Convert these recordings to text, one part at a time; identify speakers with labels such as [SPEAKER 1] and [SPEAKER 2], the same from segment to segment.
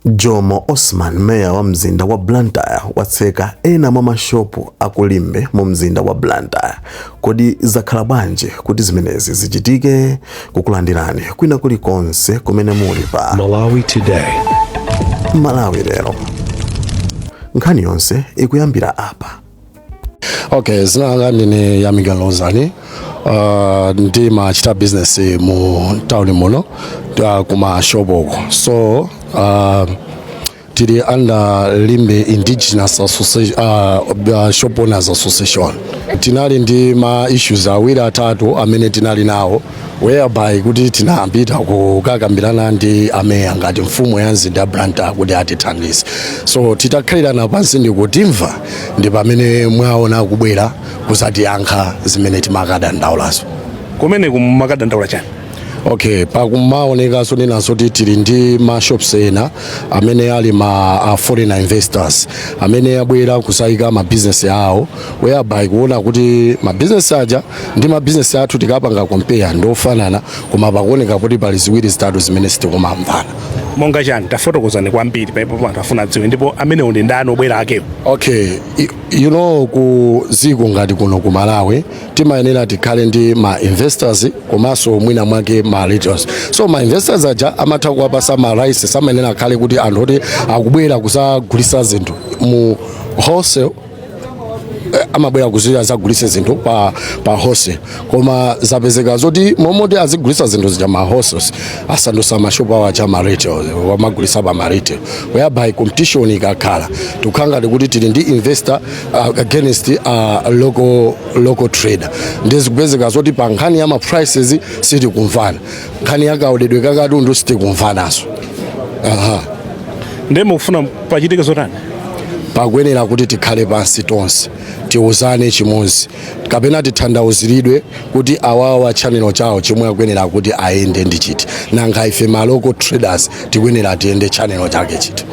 [SPEAKER 1] Jomo Osman, Mayor wa mzinda wa Blantyre watseka ena mwa mashopu aku Limbe mu mzinda wa Blantyre. Kodi zakhala bwanji kuti zimenezi zichitike? Kukulandirani kwina kuli konse kumene muli pa Malawi Today. Malawi lero. Nkhani yonse ikuyambira apa.
[SPEAKER 2] okay dzina langa ndine Yamikani Lozani uh, ndimachita business mu town muno uh, kumashopoko so uh, tili under limbe indigenous association, uh, uh, shop owners association tinali ndi ma issues awiri atatu amene tinali nawo whereby kuti tinapita kukakambirana ndi ameya ngati mfumu ya mzinda wa Blantyre kuti atithandize so titakhalirana pansi ndikutimva ndi pamene mwaona akubwera kuzatiyankha zimene timakadandaulazo
[SPEAKER 3] kumene kumakadandaula chani okay
[SPEAKER 2] pakumaoneka so ninenanso kuti tili ndi mashops ena amene ali ma a foreign investors amene abwera kuzayika mabizinesi awo whereby kuona kuti mabizinesi aja ndi mabizinesi athu tikapanga compare ndi ofanana koma pakuoneka kuti pali ziwiri zitatu zimene sitikumamvana monga
[SPEAKER 3] chani tafotokozani kwambiri pa mpo anthu afuna adziwe ndipo amenewo ndi ndani obwera akewo
[SPEAKER 2] okay I- you know ku dziko ngati kuno ku malawi timayenera tikhale ndi ma investors komanso mwina mwake ma retailers so ma investors aja amatha kuwapasa ma rights samayenera akhale kuti anthu oti akubwera kuzagulisa zinthu mu wholesale Eh, amabwera kuti azagulise zinthu pa, pa wholesale koma zapezeka zoti momoti azigulisa zinthu zija ma wholesale asandusa mashopu awo aja ma retail amagulisa pa ma retail whereby competition ikakhala tikhala ngati kuti tili ndi investor uh, against uh, local, local trader ndizikupezeka zoti pa nkhani ya ma prices sitikumvana nkhani ya kaoledwe ka katundu sitikumvanaso
[SPEAKER 3] aha ndiye mukufuna pachitike zotani pakuyenera
[SPEAKER 2] kuti tikhale pansi tonse tiuzane chimodzi kapena titanthauziridwe kuti awawa chanelo chawo chomwe akuyenera kuti ayende ndi chiti nanga ife ma local traders tikuyenera tiyende chanelo chake chiti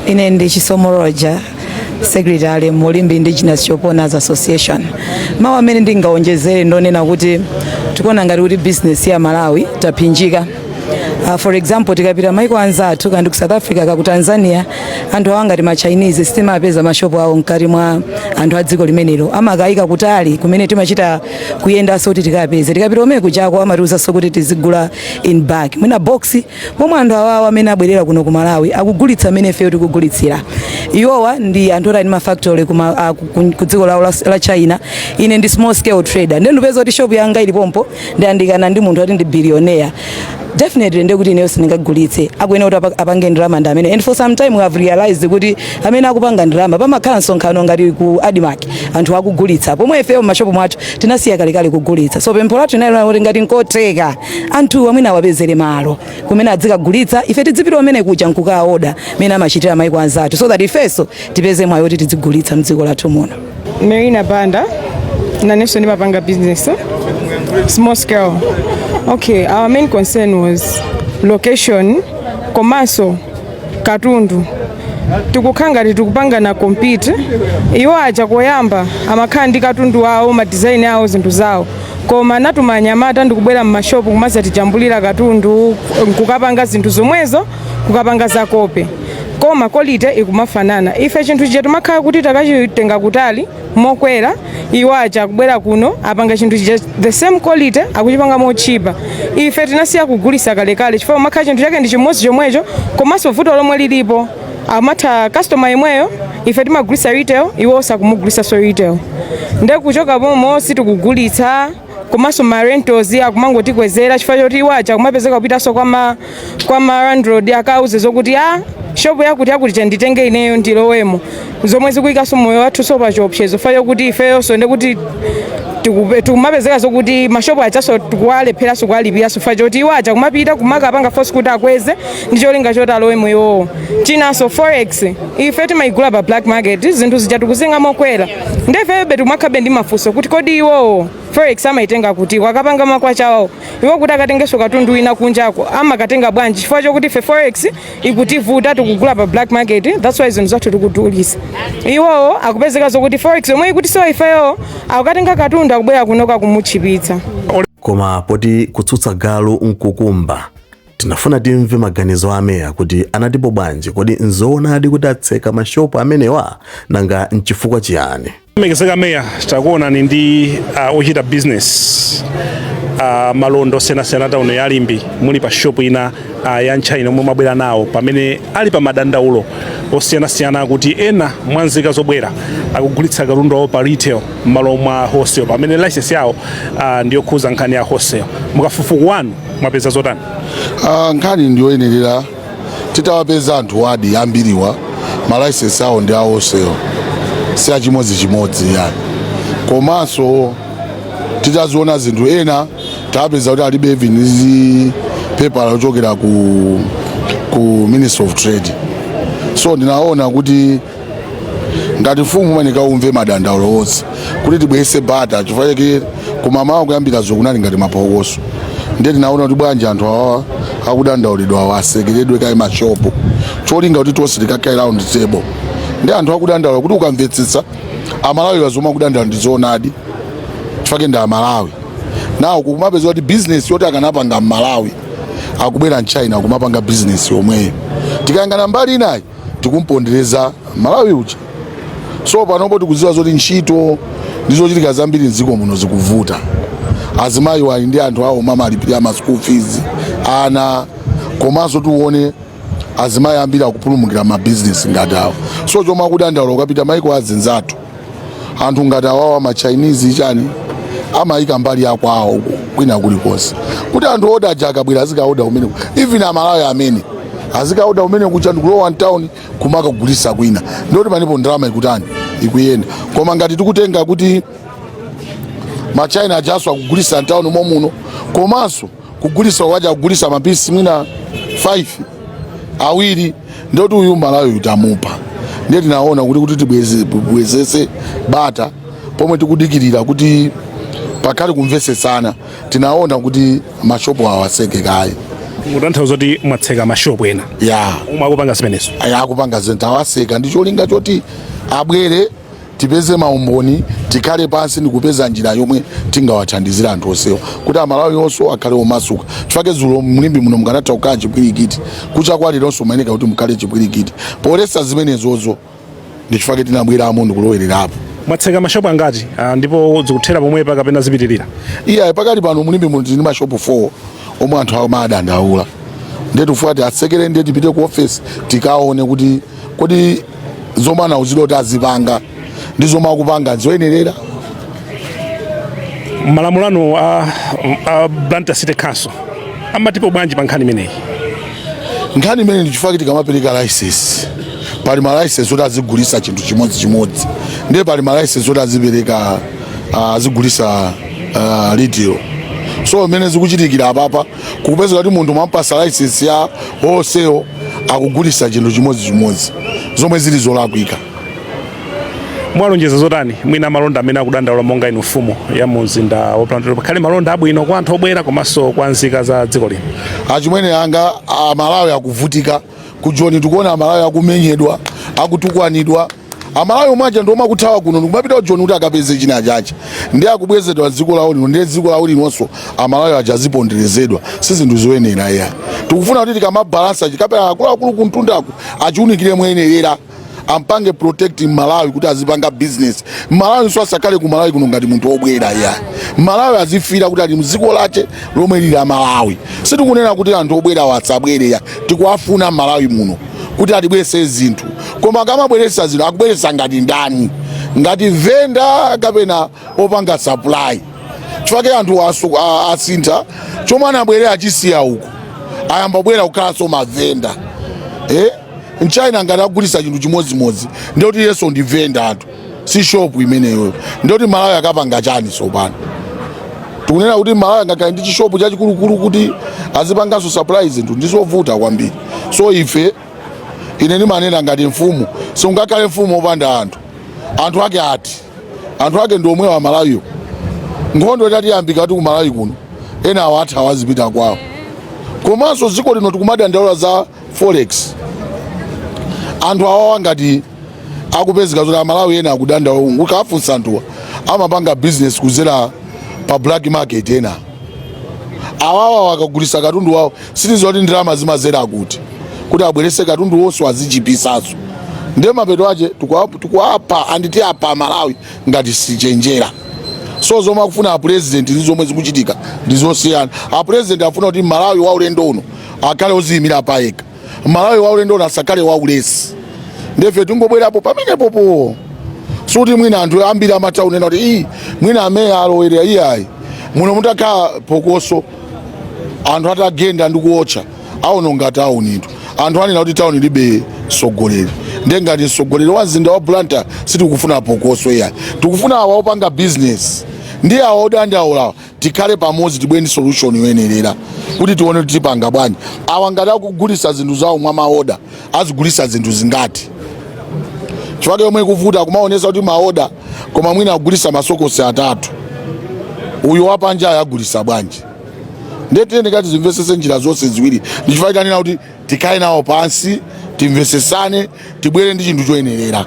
[SPEAKER 2] ine ndi
[SPEAKER 4] Chisomo Roja secretary mu Limbe indigenous shop owners association mawu amene ndingawonjezere ndonena kuti tikuona ngati kuti business ya malawi yaphinjika Uh, for example tikapita maiko anzathu ngati ku south africa kaku tanzania anthu awa ngati ma chinese sitimapeza mashopu awo mkati mwa anthu a dziko limenelo amakayika kutali kumene timachita kuyendanso kuti tikapeze tikapita omwe kuchako amatiuzanso kuti tizigula in bulk mwina box pomwe anthu awawa amene abwerera kuno ku malawi akugulitsa amene ifeyo tikugulitsira iwowo ndi anthu oti ali ndi mafactory ku ma- a- ku- ku- ku dziko lawo la- la china ine ndi small scale trader ndiye ndipeza kuti shop yanga ili pompo ndiyandikana ndi munthu oti ndi billionaire definitely ndiye kuti ineyo sindingagulitse akuyenera kuti apa- apange ndalama ndi amene and for some time we have realized kuti amene akupanga ndalama pamakhala msonkhano ngati ku admark anthu akugulitsa pomwe ifeyo m'mashopu mwathu tinasiya kalekale kugulitsa so pempho lathu inali kuti ngati nkotheka anthuwa mwina awapezere malo kumene adzikagulitsa ife tidzipita kumene kuja nkukaoda mmene amachitira maiko anzathu so that ifenso tipeze mwayi woti tidzigulitsa mdziko lathu muno Marina Banda
[SPEAKER 5] nanenso ndimapanga business eh? small scale okay our main concern was location komanso katundu tikukhala ngati tikupangana compete iwo aja koyamba amakhala ndi katundu wawo madizaini awo zinthu zawo koma anatuma anyamata ndikubwera m'mashopu kumazatijambulira katundu nkukapanga zinthu zomwezo kukapanga za copy koma quality ikumafanana ife chinthu chija timakhala kuti takachitenga kutali mokwera iwo aja akubwera kuno apanga chinthu chija the same quality akuchipanga motchipa ife tinasiya kugulisa kalekale chifukwa umakhala chinthu chake ndi chimodzi chomwecho komanso vuto lomwe lilipo amatha customer yemweyo ife timagulisa retail iwo akumugulisaso retail nde kuchoka pompo sitikugulitsa komanso ma rentals akumangotikwezera chifukwa choti iwo aja kumapezeka kupitanso kwa ma kwa ma landlord akauze zokuti a shopu yakuti yakuti chanditenge ineyo ndilowemo zomwe zikuyikanso moyo wathuso pa chiopsezo fa yokuti ifeyonso ndekuti tikupe- tikumapezeka zokuti mashopu ajaso tikuwalepheranso kuwalipiranso fa choti iwo aja kumapita kumakapanga force kuti akweze ndi cholinga choti alowemo iwowo chinanso forex ife timayigula pa black market zinthu zija tikuzinga mokwera nde ifeyobe tikumakhalabe ndi mafunso kuti kodi iwowo forex amayitenga kuti akapanga makwachawo iwo kuti akatengenso katundu wina kunjako amakatenga bwanji chifukwa chokuti ife forex ikutivuta tikugula pa black market that's why zinthu zathu tikudulisa iwowo akupezeka zokuti forex yomwe ikutisowa ifeyo akukatenga katundu akubwera kunoka kumutchipitsa
[SPEAKER 1] koma
[SPEAKER 5] poti
[SPEAKER 1] kutsutsa
[SPEAKER 5] galu
[SPEAKER 1] nkukumba tinafuna timve maganizo a meya kuti anatipo bwanji kodi nzoonadi kuti atseka mashopu amenewa nanga nchifukwa chiyani lemekezeka
[SPEAKER 3] meya takuonani ndi uh, ochita business uh, malonda osiyanasiyana tauni ya limbe muli pa shop ina uh, ya mtchaina yomwe mwabwera nawo pamene ali pa madandaulo osiyanasiyana kuti ena mwa nzika zobwera akugulitsa katundu awo pa retail m'malo mwa wholesale pamene license yawo uh, ndiyokhuza nkhani ya wholesale mukafufuku wanu mwapeza zotani Ah, nkhani
[SPEAKER 2] ndiyoyenerera titawapeza anthu wadi ambiriwa malaisensi awo ndi a wholesale si achimodzichimodzi yayi komanso titaziona zinthu ena tapeza kuti alibe even ndi pepala lochokera ku, ku ministry of trade so ndinaona kuti ngati mfumu umafunika umve madandaulo onse kuti tibwezese bata chifukwa chake kummawa kuyambira zo kunali ngati mapokoso ndiye tinaona kuti bwanji anthu awawa akudandaulidwa awa asekeredwe kaye mashopu cholinga kuti tonse tikakhale round table ndi anthu akudandaula kuti ukamvetsetsa amalawi wa zomwe akudandaula ndi zoonadi chifukwa ndi amalawi nawo kumapeza kuti bizinesi yoti akanapanga mmalawi akubwera mchina kumapanga bizinesi yomweyo tikayang'ana mbali inayi tikumpondereza mmalawi uja so panopo tikudziwa zoti ntchito ndi zochita zambiri mdziko muno zikuvuta azimayi ali ndi anthu awo omwe amalipirira ma school fees ana komanso tione azimayi ambiri akupulumukira ma business ngati awo so chomwe akudandaula ukapita maiko azinzathu anthu ngati awawa ma Chinese chani amayika mbali ya kwawo uko kwina kulikonse kuti anthu ooda aja akabwera azikaoda umeneko even amalawi amene azikaoda kumene kuja ndikulowa mtown kumakagulisa kwina ndoti panopo ndalama ikutani ikuyenda koma ngati tikutenga kuti ma China ajaso akugulisa mtown momuno komanso kugulisa kwake kugulisa mapisi mwina 5 awiri ndoti uyu mmalawi utamupha ndiye tinaona kuti kuti tibwezese bata pomwe tikudikirira kuti pakhale kumvesesana tinaona kuti mashopo awaseke kaye mutanthauza
[SPEAKER 3] kuti mwatseka mashopo ena ya omwe akupanga zimenezo akupanga zinthu
[SPEAKER 2] awaseka ndi cholinga choti abwere tipeze maumboni tikhale pansi ndikupeza njira yomwe tingawathandizire anthu onsewa kuti amalawi onso akhale omasuka chifake zulo mu Limbe muno mukanatha kukhala chipwirikiti kucha kwa leronso mumayeneka kuti mukhale chipwirikiti poletsa zimenezozo ndi chifake tinabweramo ndikulowererapo mwatseka
[SPEAKER 3] mashopu angati ah, ndipo zikuthera pomwepa kapena zipitirira iya pakali
[SPEAKER 2] pano mu Limbe muno tili ndi mashopu 4 omwe anthu amadandaula ndiye tifuna kuti atsekere ndiye tipite ku ofesi tikaone kuti kodi zomwe anauzidwa kuti azipanga ndi zomwe akupanga
[SPEAKER 3] zoyenerera malamulo anu a, a Blantyre City Council amatipo bwanji pa nkhani imeneyi nkhani
[SPEAKER 2] imeneyi ndichifukwa tikamapereka license pali ma license oti azigulisa chinthu chimodzi chimodzi ndiye pali ma license oti azipereka ah, azigulisa ah, retail so mmene zikuchitikira apapa kupeza kuti munthu mwampasa license ya wholesale akugulisa chinthu chimodzimodzi zomwe zili zolakwika
[SPEAKER 3] mwalonjeza zotani mwina amalonda amene akudandaula monga inu mfumu ya mumzinda wa Blantyre pakhale malonda abwino kwa anthu obwera komanso kwa nzika za dziko lino achimwene anga
[SPEAKER 2] amalawi akuvutika kujoni tikuona amalawi akumenyedwa akutukwanidwa amalawi omwe aja ndiomwe akuthawa kuno ndikumapita kujoni kuti akapeze china chache ndiye akubwezedwa dziko lawo lino ndiye dziko lawo linonso amalawi aja aziponderezedwa si zinthu zoyenera iya tikufuna kuti tikamabalansa chikalata akuluakulu kumtundaku achiunikire moyenerera ampange protect mmalawi kuti azipanga business mmalawinso asakhale ku malawi kuno ngati munthu obwera iya mmalawi azifila kuti ali mdziko lache lomwe lili malawi sitikunena kuti anthu obwerawo asabwere ya tikuwafuna mmalawi muno kuti atibweretse zinthu koma akamabweretsa zinthu akubweretsa ngati ndani ngati venda kapena opanga supply chifukwa anthu asu- a- asintha chomwe anabwerera achisiya uko ayamba kubwera kukhalanso mavenda eh? mchina ngati akugulitsa chinthu chimodzimodzi ndekuti iyenso ndi venda anthu si shop imeneyo ndiyeti mmalawi akapanga chani tsopano tikunena kuti mmalawi sangakhale ndi chishopu chachikulukulu kuti azipanganso supply zinthu ndizovuta kwambiri so ife ine ndimanena ngati mfumu siungakhale mfumu opanda anthu anthu ake ati anthu ake ndi omwewa amalawiwo nkhondo itatiyambika kuti kumalawi kuno enawo atha awazipita kwawo komanso dziko lino tikumadandaula za forex anthu awawa ngati akupezeka zoti amalawi ena akudandaula ukafunsa anthuwa amapanga business kuzera pa black market ena awawa wakagulisa katundu wawo sitidziwa kuti ndalama zimazera kuti kuti abwerese katundu wonse wazichipisanso ndiye mapeto ache tikuwapha ndani tiapha amalawi ngati sitichenjera so zomwe akufuna apurezidenti ndi zomwe zikuchitika ndi zosiyana apurezidenti afuna kuti mmalawi wa ulendo uno akhale oziyimira payekha mmalawi waulendo uno asakhale waulesi ndefe tingobwerapo pamenepopo suti mwina anthu ambiri amatha kunena kuti iyi mwina ameya alowerera iyayi muno mutakhala phokoso anthu atagenda ndi kuotcha aononga taunitu anthu anena kuti tauni ilibe mtsogoleri nde ngati mtsogoleri wa mzinda wa blantyre sitikufuna phokoso iyayi tikufuna awa opanga bizinesi ndi awa odandaulawa tikhale pamodzi tibwere ndi solution yoyenerera kuti tione kuti tipanga bwanji awa ngati akugulisa zinthu zawo mwa maoda azigulisa zinthu zingati chifukwa chomwe chikuvuta akumaonesa kuti maoda koma mwina akugulisa masokosi atatu uyu wapanja agulisa bwanji ndetiyeni tikazimvesese njira zonse ziwiri ndichifukwa tanena kuti tikhale nawo pansi timvesesane tibwere ndi chinthu choyenerera